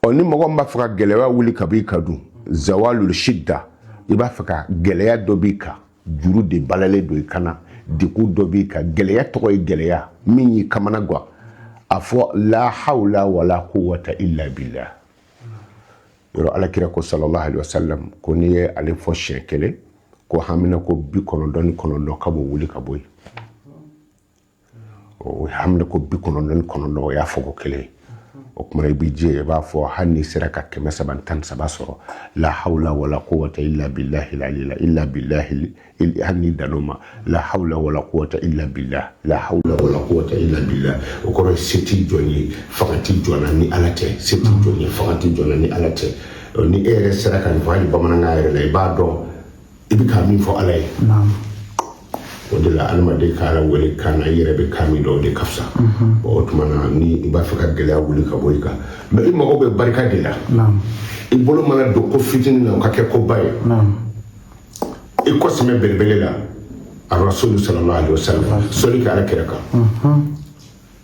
ɔ ni mɔgɔ min b'a fɛ ka gɛlɛya wuli ka bɔ i kan dun zawalul shidda i b'a fɛ ka gɛlɛya dɔ b'i kan juru de balalen don i kan na degun dɔ b'i kan gɛlɛya tɔgɔ ye gɛlɛya min y'i kamana gan a fɔ la hawla wala quwwata illa billah yɔrɔ ala kira ko sallallahu alaihi wasallam ko n'i ye ale fɔ siɲɛ kelen ko hamina ko bi kɔnɔntɔn ni kɔnɔntɔn k'a b'o wuli ka bɔ yen o hamina ko bi kɔnɔntɔn ni kɔnɔntɔn o y'a fɔ ko kelen o tuma i bɛ jɛ i b'a fɔ hali n'i sera ka kɛmɛ saba ni tan ni saba sɔrɔ la hawla wala quwwata illa billahi illa billahi hali n'i dan o ma la hawla wala quwwata illa billah la hawla wala quwwata illa billah o kɔrɔ se tɛ jɔn ye fanga tɛ jɔn na ni ala tɛ se tɛ jɔn ye fanga tɛ jɔn na ni ala tɛ ni e yɛrɛ sera ka nin fɔ hali bamanankan yɛrɛ la i b'a dɔn i bɛ ka min fɔ ala ye o de la adamaden ka ala wele kan na i yɛrɛ bɛ kan min dɔn o de ka fisa o tuma na ni i b'a fɛ ka gɛlɛya wuli ka bɔ i kan mais i mago bɛ barika de la i bolo mana don ko fitinin na o ka kɛ koba ye i kɔ sɛmɛ belebele la arasulu sallallahu alaihi wasallam sɔli kɛ ala kira kan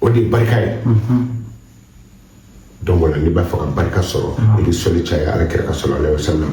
o de ye barika ye donc o la n'i b'a fɛ ka barika sɔrɔ i bɛ sɔli caya ala kira kan sallallahu alaihi wasallam